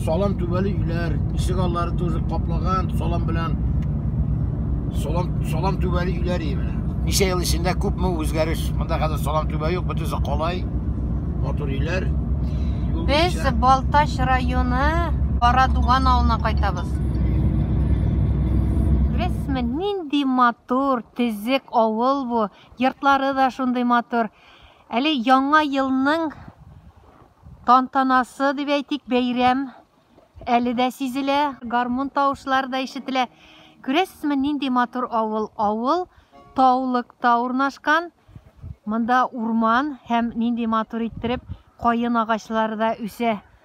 Салам түбәле өйләр, ишек аллары тоже каплаган салам белән. Салам салам түбәле өйләр именно. Ничә ел эчендә күпме үзгәреш? Монда хәзер салам түбә юк, бөтенесе калай. Матур өйләр. Без Балтач районы Карадуган авылына кайтабыз. Беләсезме, нинди матур, тезек авыл бу. Йортлары да шундый матур. Әле яңа елның тантанасы дип әйтик, бәйрәм әле дә сизелә, гармун тавышлары да ишетелә. Күрәсезме, нинди матур авыл. Авыл таулыкта урнашкан. Монда урман һәм нинди матур иттереп каен агачлары да үсә.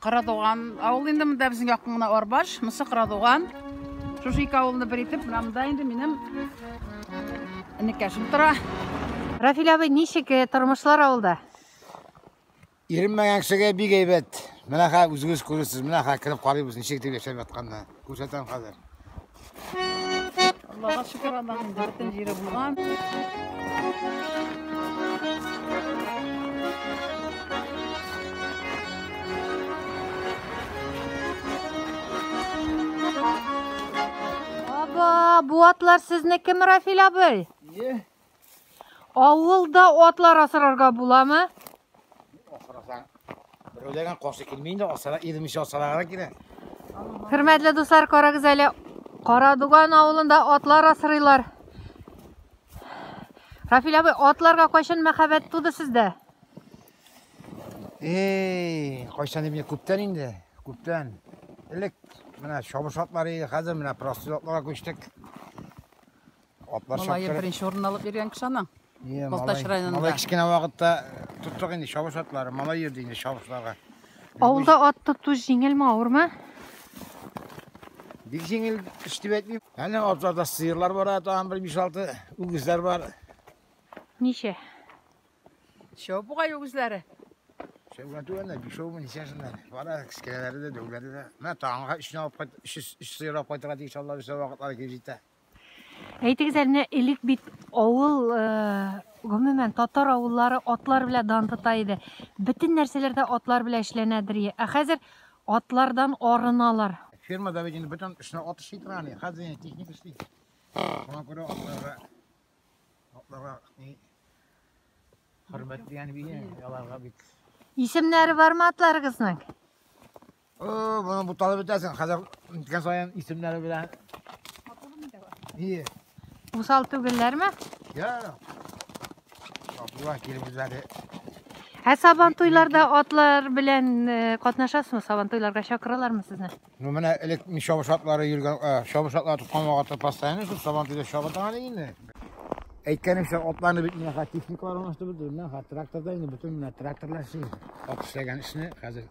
Кырадуган авылы инде монда безнең якын гына Арбаш, монысы Кырадуган. Шушы ике авылны бер итеп, менә монда инде минем энекәшем тора. Рафил абый, ничек э, тормышлар авылда? Иренмәгән кешегә бик әйбәт. Менә хәзер үзегез күрәсез, менә хәзер кереп карыйбыз, ничек дип яшәп ятканны. Күрсәтәм хәзер. Аллаһка шөкер, Аллаһның инде бөтен җире булган. Аба, бу атлар сезнекеме, Рафил абый? Е, Авылда атлар асырарга буламы? Асырасаң, берәүләргә каршы килми инде, асыра, ирмичә асырарга кирәк. Хөрмәтле дуслар, карагыз әле, Карадуган авылында атлар асырыйлар. Рафил абый, атларга кайчан мәхәббәт туды сездә? Эй, кайчан инде күптән инде, күптән. Элек менә чабыш атлары иде, хәзер менә простой атларга күчтек. Атлар Малайы чаптырып. беренче урын алып йөргән кеше ана. Е, Балтач малай- районында. Малай кечкенә вакытта тоттык инде чабыш атлары. Малай йөрде инде чабышларга. Авылда ат тоту җиңелме, авырмы? Бик җиңел эш дип әйтмим. Әле атларда сыерлар бар, ә тагын бер 5-6 үгезләр бар. Ничә? Чоп бугай үгезләре. Шәүгән түгәннәр, бишәүме, ничәсеннәр. Бар әле кечкенәләре дә, дәүләре дә. Менә таңга өчне алып кайт, өч, өч сыер алып кайтырга тиеш алар өчә вакытлары килеп җитә. Әйтегез әле, элек бит авыл, э, гомумән, татар авыллары атлар белән дан тота иде. Бөтен нәрсәләр дә атлар белән эшләнәдер. Ә хәзер атлардан арыналар. Фермада бит инде бөтен эшне ат эшли тора аны. Хәзер инде техник эшли. Шуңа күрә атларга атларга ни хөрмәт дигән бия, аларга бит. Исемнәре бармы атларыгызның? О, моны буталып бетәсең. Хәзер иткән саен исемнәре белән. Ие. Усал түгелләрме? Я. Сабантуйлар килеп үзләре. Ә сабантуйларда атлар белән э, катнашасызмы? Сабантуйларга чакыралармы сезне? Ну, менә элек мин чабыш атлары йөргән, э, чабыш атлары тоткан вакытта постоянно шул сабантуйда чабыта әле инде. Әйткәнемчә, атларны бит менә хәзер техникалар алмаштырып бетердем. Менә хәзер тракторда инде бөтен менә тракторлар эшли. Ат эшләгән эшне хәзер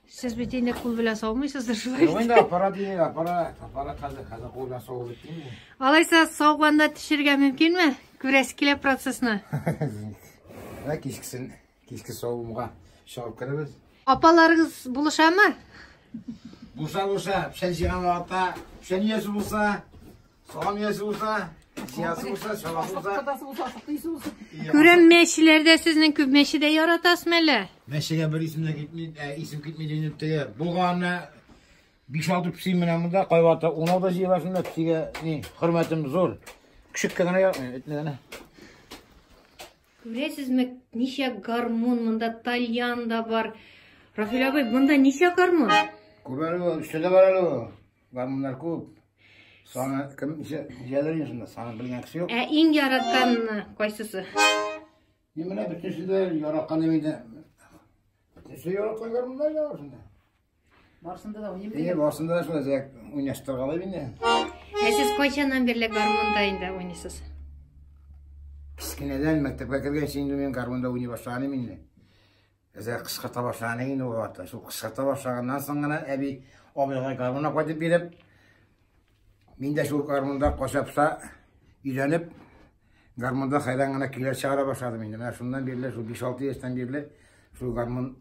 Сез бит инде кул белән саумыйсыздыр шулай. Юк инде аппарат дигән аппарат, аппарат хәзер хәзер кул белән сау бит инде. Алайса сауганда төшергә мөмкинме? Күрәсе килә процессны. Ә кичкесен, кичке савымга чыгып керәбез. Апаларыгыз булышамы? Булса булса, печән җыйган вакытта, печән иясе булса, Салам ясы булса, зиясы булса, чаласы булса. Кадасы булса, сыйсы булса. Күрәм мәчеләрдә сезнең күп мәчедә яратасызмы әле? Мәчегә бер исемдә китми, ә, исем китми дигән теге. Булганны 5-6 пси менә монда кайвата 10 да җыела шунда псигә ни хөрмәтем зур. Күшеккә генә яратмыйм, этне генә. Күрәсезме, ничә гармун монда тальян да бар. Рафил абый, монда ничә гармун? Күбәле, өчтә дә бар әле. Гармуннар күп. Саны кем җәләрен шунда, саны белгән кеше юк. Ә иң яраткан кайсысы? Мин менә бөтенесе дә яраткан инде. Бөтенесе яраткан гармуннар да шунда. Барсында да уйныйм. Э, барсында да шулай зәк уйнаштыргалай инде. Ә сез кайчаннан бирле гармунда инде уйныйсыз? Кечкенәдән мәктәпкә кергәнче инде мин гармунда уйный башлаганым инде. Әзә кыскырта башлаган инде ул вакытта. Шул кыскырта башлаганнан соң гына әби абыйга гармунна кайтып биреп, мин дә шул гармунда качапса өйрәнеп, гармунда хайран гына көйләр чыгара башладым инде. Менә шуннан бирле, шул 5-6 яшьтән бирле шул гармун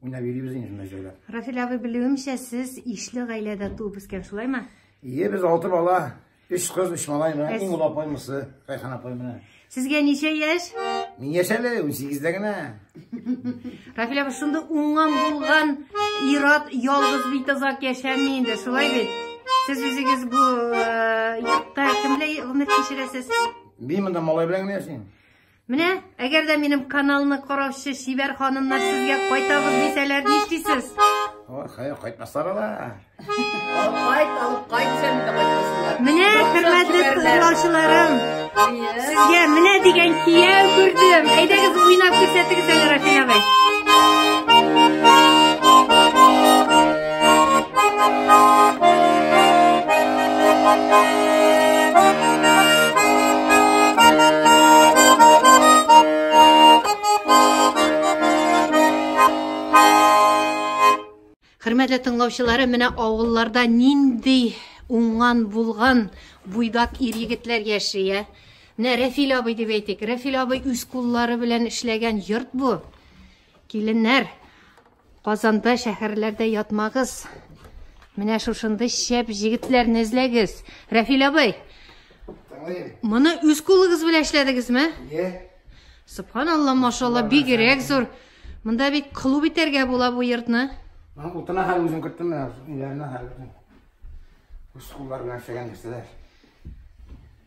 уйнап йөрибез инде шунда җайлап. Рафил абый, белүемчә, сез ишле гаиләдә туып үскән, шулаймы? Ие, без алты бала. Өч кыз, өч малай, менә иң ул апай мысы, Райхан апай менә. Сезгә ничә яшь? Мин яшь әле, 18-дә генә. Рафил апа, шунда уңган булган ират ялгыз бит озак яшәми инде, шулай бит? Сез үзегез бу э, йортта кемләй гомер кичерәсез? Мин монда малай белән генә яшим. Менә, әгәр дә минем каналны караучы чибәр ханымнар сезгә кайтабыз дисәләр, нишлисез? Ой, хәер, кайтмаслар ала. Алып кайт, алып кайт, сән дә кайтмаслар. Менә, хөрмәтле тыңлаучыларым, сезгә менә дигән кияү күрдем. Әйдәгез, уйнап күрсәтегез әле, Рафил абый. Хөрмәтле тыңлаучылары, менә авылларда нинди уңган булган буйдак ир егетләр яши, ә? Менә Рәфил абый дип әйтик. Рәфил абый үз куллары белән эшләгән йорт бу. Киленнәр, Казанда, шәһәрләрдә ятмагыз. Менә шушындый шәп җегетләрне эзләгез. Рәфил абый, моны үз кулыгыз белән эшләдегезме? Иә. Субханалла, машалла, бигерәк зур. Монда бит клуб итәргә була бу йортны. Мына утына хәл үзем керттем, менә өйләренә хәл. Үз куллар белән эшләгән нәрсәләр.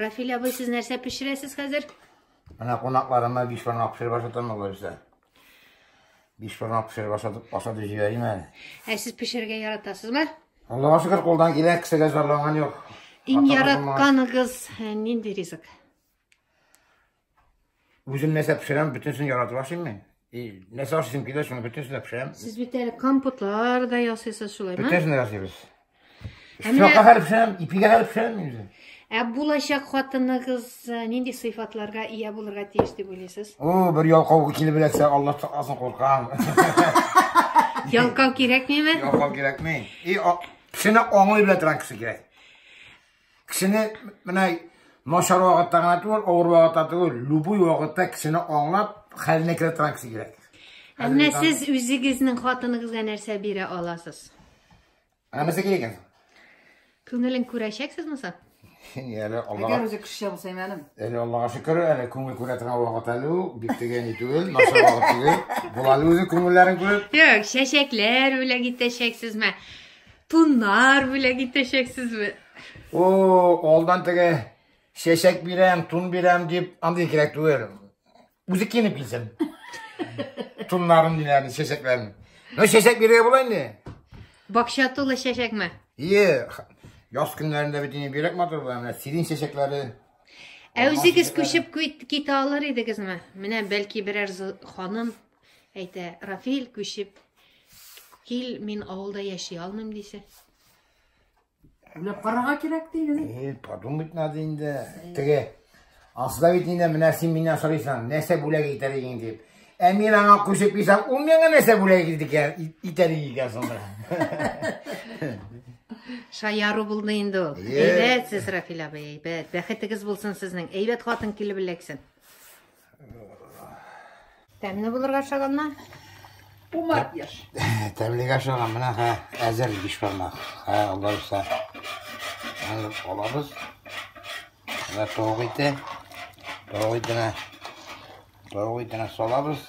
Рафиль абый, сез нәрсә пешерәсез хәзер? Менә кунакларыма биш бармак пешереп ашатам алайса. Биш бармак пешереп ашатып ашатып җибәрим әле. Ә сез пешерергә яратасызмы? Аллага шөкер, кулдан килә, кешегә зарланган юк. Иң яратканыгыз э, нинди ризык? Үзем нәрсә пешерәм, бөтенсен яратып ашыйм мин. И нәрсә ашыйсым килә, шуны бөтенсен дә пешерәм. Сез бит әле компотлар да ясыйсыз шулай, ма? Бөтенсен дә ясыйбыз. Сакка хәл пешерәм, ипигә хәл пешерәм мин үзем. Ә булачак хатыныгыз э, нинди сыйфатларга ия булырга тиеш дип уйлыйсыз? О, бер ялкау килеп эләксә, Аллаһ сакласын, куркам. Ялкау кирәкмиме? Ялкау кирәкми. И пешене аңлый белә торган кеше кирәк. Кешене менә начар вакытта гына түгел, авыр вакытта түгел, любой вакытта кешене аңлап, хәленә керә торган кеше кирәк. Әмма сез үзегезнең хатыныгызга нәрсә бирә аласыз? Ә нәрсә кирәк икән? Күңелен күрәчәксез муса? Әле Аллага. Әгәр үзе кеше булса мәлим. Әле Аллага шөкер, әле күңел күрә торган вакыт әле ул, бик дигән ни түгел, начар вакыт түгел. Була әле үзе күңелләрен күреп. Юк, чәчәкләр бүләк итәчәксезме? Туннар бүләк итәчәксезме? О, алдан теге чәчәк бирәм, тун бирәм дип андый кирәк түгел. Үзе киенеп килсен. Туннарын диләрен, чәчәкләрен. Ну, чәчәк бирергә була инде. Бакча тулы чәчәкме? Ие, яз көннәрендә бит инде бирәк матур була, менә сирень чәчәкләре. Ә үзегез күчеп кит- китә алыр идегезме? Менә бәлки берәр зо- ханым Әйтә, Рафиль, күчеп, кил, мин авылда яши алмыйм дисә. Уйлап карарга кирәк диген. Э, подумать надо инде. Теге Асла бит инде менә син миннән сорыйсың, нәрсә бүләк итәр идең дип. Ә мин аңа күчеп кисәм, ул миңа нәрсә бүләк итәр икән соңда. Шаяру булды инде ул. Әйбәт сез, Рафил абый, әйбәт. Бәхетегез булсын сезнең. Әйбәт хатын килеп эләксен. Тәмле булырга шаганна. Умар яш. Тәмлегә шаган менә ха әзер биш бармак. Ха алар са. Аны алабыз. Менә тавык ите. Тавык итенә. Тавык итенә салабыз.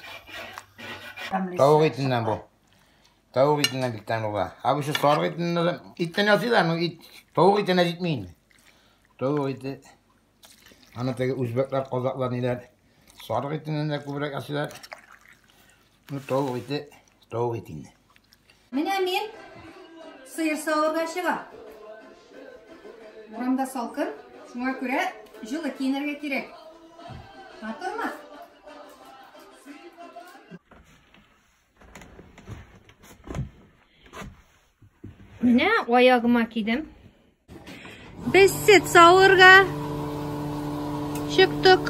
Тавык итеннән бу. Тавык итеннән бик тәмле була. Ә бу сарык итеннән иттән ясыйлар, но ит тавык итенә җитми инде. Тавык ите. Аны теге үзбәкләр, казаклар ниләр? Сарык итеннән дә күбрәк әсиләр. Ну, тавык ите, тавык ите инде. Менә мин сыер савырга чыга. Урамда салкын, шуңа күрә җылы киенергә кирәк. Матурмы? Менә аягыма кидем. Без сет савырга чыктык.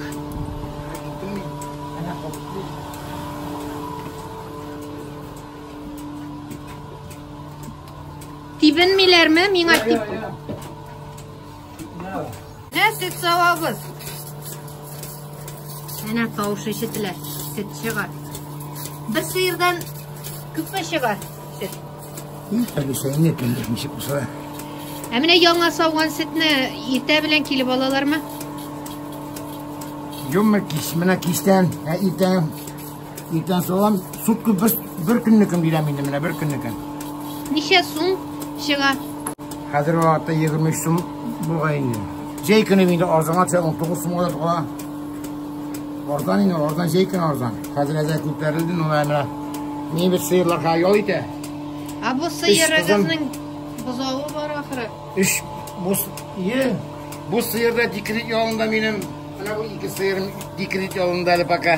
Тибенмиләрме? Миңа тип. Менә сөт савабыз. Менә тавыш ишетелә. Сөт чыгар. Бер сыердан күпме чыгар? Сөт. Кәбесәне кемдер ничек булса. Ә менә яңа сауган сөтне иртә белән килеп алалармы? Юмма кис, менә кистән, ә иртән Иртән салам, сутка бер, бер көннекен бирәм инде менә, бер көннекен. Ничә сум чыга? Хәзер вакытта 23 сум булган инде. Җәй көне инде арзанга төшә, 19 сумга да тула. Арзан инде, арзан җәй көне арзан. Хәзер әзә күтәрелде, ну менә. Ни бит сыерлар хәзер ял итә. А бу сыерыгызның бозавы бар ахыры. Эш бу сыер, бу сыерда дикрит ялында минем Менә бу ике сыерым декрет ялында әле пока.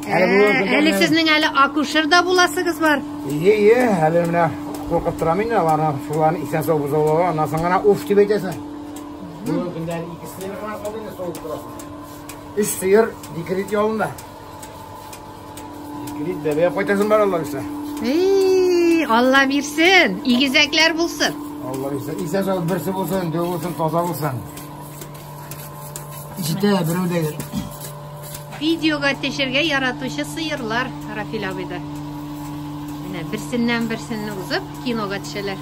Әле сезнең әле акушер да буласыгыз бар. Ие, ие, әле менә куркып торам инде аларны, шуларны исән сау бозаулауга, аннан соң гына уф дип әйтәсең. Бүгенге көндә әле ике сыер гына калды инде савып торасың. Өч сыер декрет ялында. Декрет бәбәгә кайтасың бар алла бирсә. Эй, алла бирсен, игезәкләр булсын. Алла бирсә, исән сау берсе булсын, дөв булсын, таза булсын. Җитә, берәү дә гел. Видеога төшергә яратучы сыерлар Рафил абыйда. Менә берсеннән берсенне узып кинога төшәләр.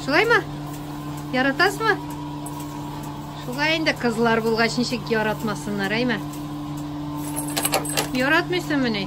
Шулаймы? Яратасызмы? Шулай инде кызлар булгач ничек яратмасыннар, әйме? Яратмыйсыңмыни?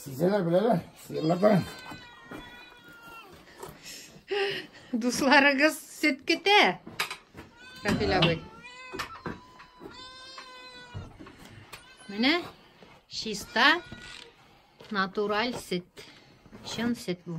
Сизәләр беләләр. Сыерлар бар. Дусларыгыз сөт көтә. Рафил абый. Менә чиста натураль сөт. Чын сөт бу.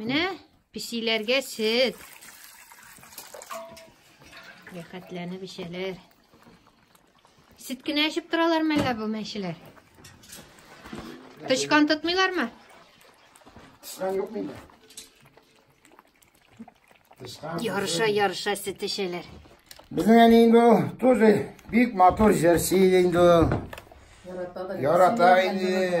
Менә песиләргә сөт. Рәхәтләнеп эчәләр. Сөт кенә эчеп торалармы әллә бу мәчеләр? Тычкан тотмыйлармы? Тычкан юк миндә. Ярыша, ярыша сөт эчәләр. Безнең әни инде ул тоже бик матур җырчы иде инде ул. Ярата инде.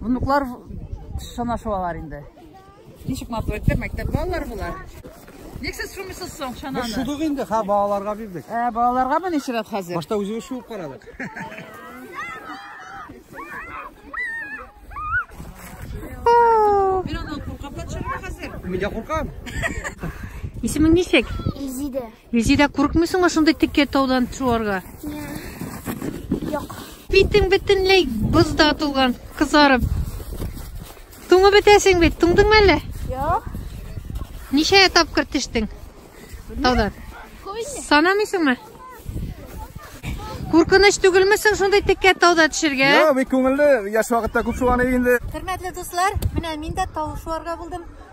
Внуклар санашу алар инде. Ничек матур итте, мәктәп балалар булар. Ник сез шумисыз соң чананы? Без шудык инде, ха, балаларга бирдек. Ә, балаларга ма ничек рәт хәзер? Башта үзебез шуып карадык. Мин аннан куркам, хәзер. Мин дә куркам. Исемең ничек? Изиде. Резеда, курыкмый соңа шундый текә таудан шуарга? Юк. Битең бөтенләй бозда тулган, кызарып. Туңып бетәсең бит, туңдыңмы әллә? Юк. Ничә тапкыр төштең? Таудан. Санамыйсыңмы? Куркыныч түгелме соң шундый теккә тауда төшергә? Йо, бик күңелле. Яшь вакытта күп шуаны инде. Хөрмәтле дуслар, менә мин дә тау шуарга булдым.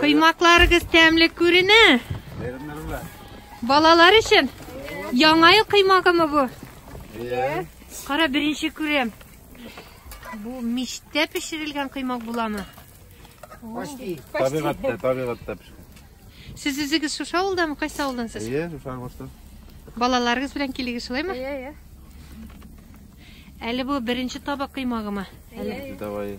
Кыймакларыгыз тәмле күренә. Балалар өчен яңа ел кыймагымы бу? Кара, беренче күрәм. Бу мичтә пешерелгән кыймак буламы? Почти. Табигатьтә, табигатьтә пешкән. Сез үзегез шушы авылдамы? Кайсы авылдан сез? Әйе, шушы авылдан. Балаларыгыз белән килегез шулаймы? Әйе, әйе. Әле бу беренче табак кыймагымы? Әйе. Давай.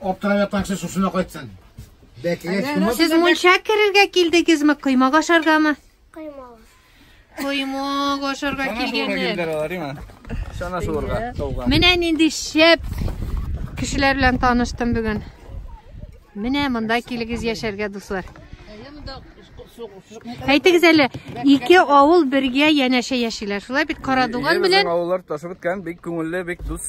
Аптырап ятаңсы шушына кайтсын. Бәкегә чумып. Сез мунча керергә килдегезме, коймак ашаргамы? Коймак. Коймак ашарга килгәннәр. Чана суырга, тауга. Менә нинди шәп кешеләр белән таныштым бүген. Менә монда килегез яшәргә, дуслар. Әйтегез әле, ике авыл бергә янәшә яшиләр. Шулай бит Карадуган белән. Авыллар ташып беткән, бик күңелле, бик дус.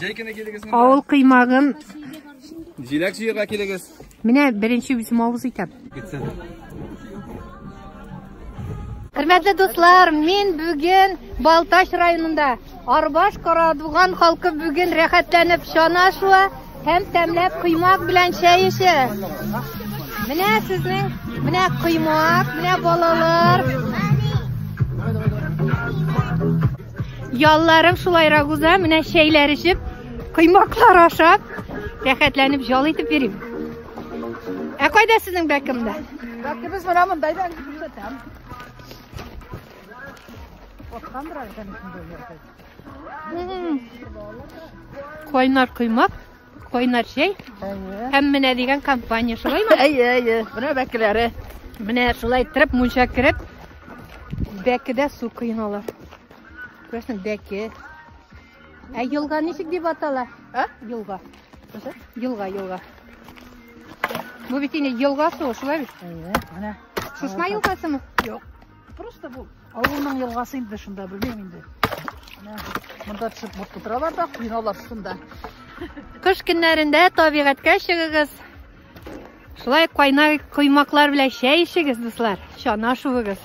Җәй көне килегез монда. Авыл кыймагын. Җиләк җыярга килегез. Менә беренче үзем авыз итәм. Хөрмәтле дуслар, мин бүген Балтач районында Арбаш Карадуган халкы бүген рәхәтләнеп чана шуа һәм тәмләп коймак белән чәй эчә. Менә сезнең, менә коймак, менә балалар. Ялларың шулайрак уза, менә чәйләр эчеп, коймаклар ашап, рәхәтләнеп ял итеп йөрим. Ә кайда сезнең бәкемдә? Бәкебез менә монда да күрсәтәм. Откандыр әлбәттә. Кайнар коймак. Кайнар чәй һәм менә дигән компания, шулаймы? Әйе, әйе. Менә бәкеләре. Менә шулай иттереп мунча кереп, бәкедә су коеналар. Күрәсең, бәке. Ә елга ничек дип атала? А? Елга. Елга, елга. Бу бит инде елга суы, шулай бит? Әйе, менә. Сушма елгасымы? Юк. Просто бу авылның елгасы инде шунда, белмим инде. Монда төшеп мут тутыралар да, куйналар шунда. Кыш көннәрендә табигатькә чыгыгыз. Шулай кайна коймаклар белән чәй ичегез, дуслар. Чана шуыгыз.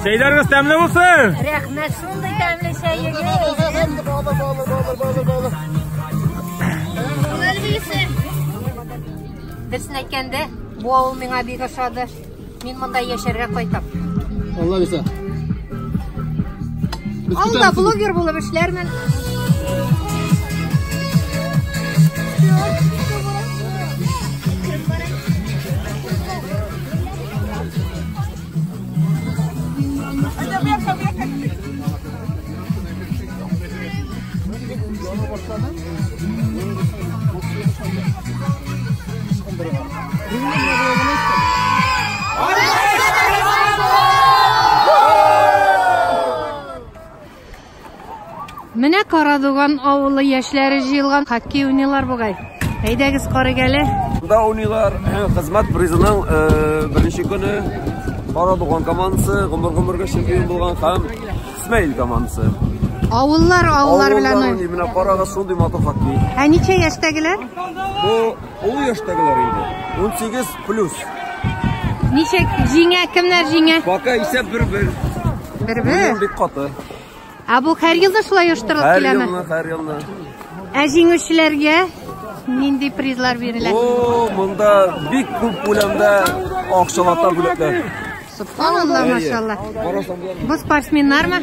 Чәйләрегез тәмле булсын. Рәхмәт, шундый тәмле чәйегез. Алып, алып, алып, алып, алып. Дөресен әйткәндә, бу авыл миңа бик ошады. Мин монда яшәргә кайтам. Алла бирсә. Без Алда көтәбез. блогер булып эшләрмен. Менә Карадуган авылы яшьләре җыелган хоккей уйныйлар бугай. Әйдәгез карыйк әле. Монда уйныйлар хезмәт призының э, беренче көне Карадуган командасы гомер-гомергә чемпион булган һәм Исмәил командасы. Авыллар, авыллар белән Авыллар уйный. менә карагыз шундый матур хоккей. Ә ничә яшьтәгеләр? Бу олы яшьтәгеләр инде. 18 плюс. Ничек җиңә, кемнәр җиңә? Пока исәп бер-бер. Бер-бер. Бик каты. Ә бу һәр елда шулай оештырылып Һәр киләме? елны, һәр елны. Ә җиңүчеләргә нинди призлар бирелә? О, монда бик күп күләмдә акчалата бүләкләр. Субханалла, машалла. Бу спортсменнармы?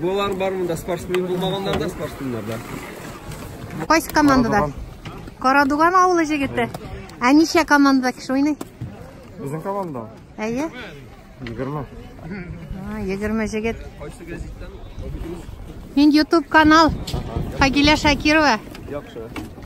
Булар бар монда спортсмен булмаганнар да, спортсменнар да. Кайсы командада? Карадуган авылы җегете. Ә ничә командада кеше уйный? Безнең команда. Әйе. 20. А, 20 җегет. Кайсы газеттан? Мин YouTube канал. Фагиля Шакирова. Яхшы.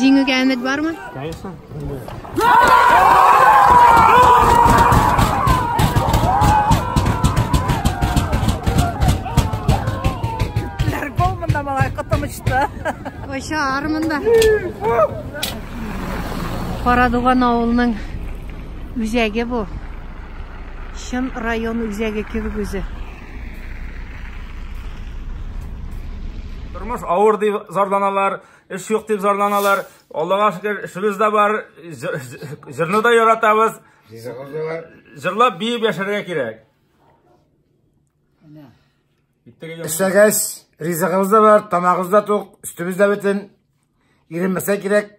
Җиңүгә өмет бармы? Конечно. Кайша армында. Карадуган авылының үзәге бу. Чын район үзәге кебек үзе. Тормыш авыр дип зарланалар, эш юк дип зарланалар. Аллага шөкер, эшебез дә бар, җырны да яратабыз. Ризыгыз да бар. Җырлап биеп яшәргә кирәк. Эшләгәч, ризыгыбыз да бар, тамагыбыз да тук, өстебез дә бөтен. Иренмәсә кирәк.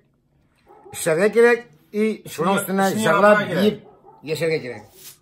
Эшләргә кирәк и шуның өстенә җырлап биеп яшәргә кирәк.